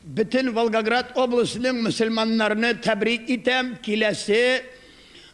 Бөтен Волгоград обласының мөселманнарны тәбрик итәм киләсе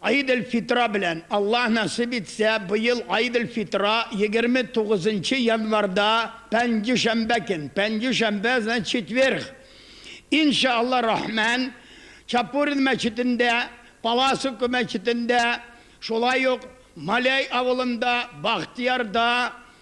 Гыйд эль-Фитра белән! Аллаһ насыйп итсә, быел Гыйд эль-Фитра 29 нчы январьда, пәнҗешәмбә көн, пәнҗешәмбе, значит, четверг. Ин ша Аллаһ рахмән, Чапурин мәчетендә, Паласовка мәчетендә, шулай ук Маляй авылында, Бахтыярда,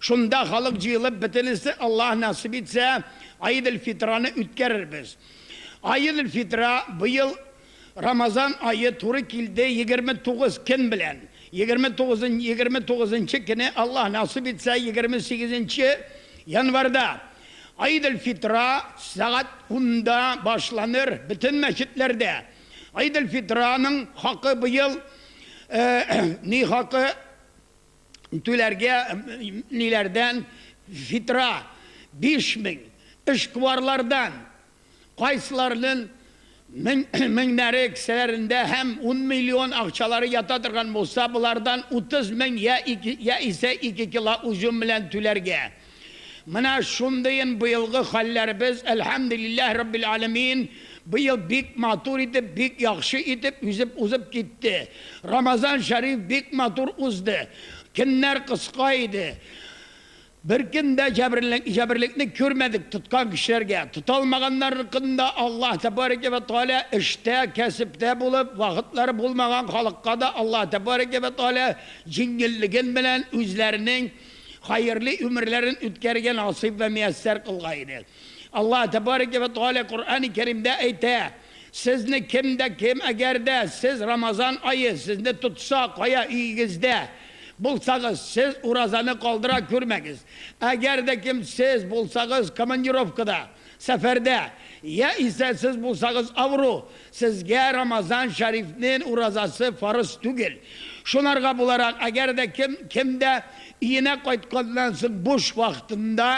Шунда халык җыелып, бөтенесе, Аллаһ насыйп итсә, Аид эль-Фитраны үткәрербез. Аид эль-Фитра быел Рамазан ае туры килде егерме тугыз көн белән. Егерме тугызын егерме тугызынчы көне, Аллаһ насыйп итсә, егерме сигезенче январьда, Аид эль-Фитра сәгать унда башланыр бөтен мәчетләрдә. Аид эль-Фитраның хакы быел ни хакы? түләргә ниләрдән фитра 5000 эшкуарлардан кайсыларнын меңнәре кесәләрендә һәм ун миллион акчалары ята торган булса болардан 30000 я исә ике кило узюм белән түләргә. Менә шундыен быелгы хәлләребез, әлхәмдүлилләһ раббил әләмиин, быел бик матур итеп, бик яхшы итеп йөзеп узып китте. Рамазан шәриф бик матур узды. Көннәр кыска иде. Беркем дә җәберлекне күрмәдек тоткан кешеләргә. Тота алмаганнарныкын да Аллаһ тәбарәкә вә тәгалә эштә, кәсептә булып, вакытлары булмаган халыкка да Аллаһ тәбарәкә вә тәгалә җиңеллеген белән үзләренең Хәерле өмерләрен үткәрергә насыйп вә мияссәр кылга иде. Аллаһ тәбарәкә вә тәгалә Коръәни Кәримдә әйтә, Сезне кем дә кем, әгәр дә сез Рамазан ае сезне тотса, кая өегездә булсагыз, сез уразаны калдыра күрмәгез. Әгәр дә кем сез булсагыз командировкада, Сәфәрдә, я исә сез булсагыз авыру, сезгә Рамазан шәрифнен уразасы фарыз түгел. Шунарга буларак, әгәр дә кем, кем дә өенә кайтканнан соң буш вакытында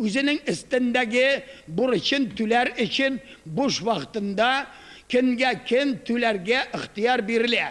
үзенең өстендәге бурычын түләр өчен буш вакытында көнгә көн түләргә ихтыяр бирелә.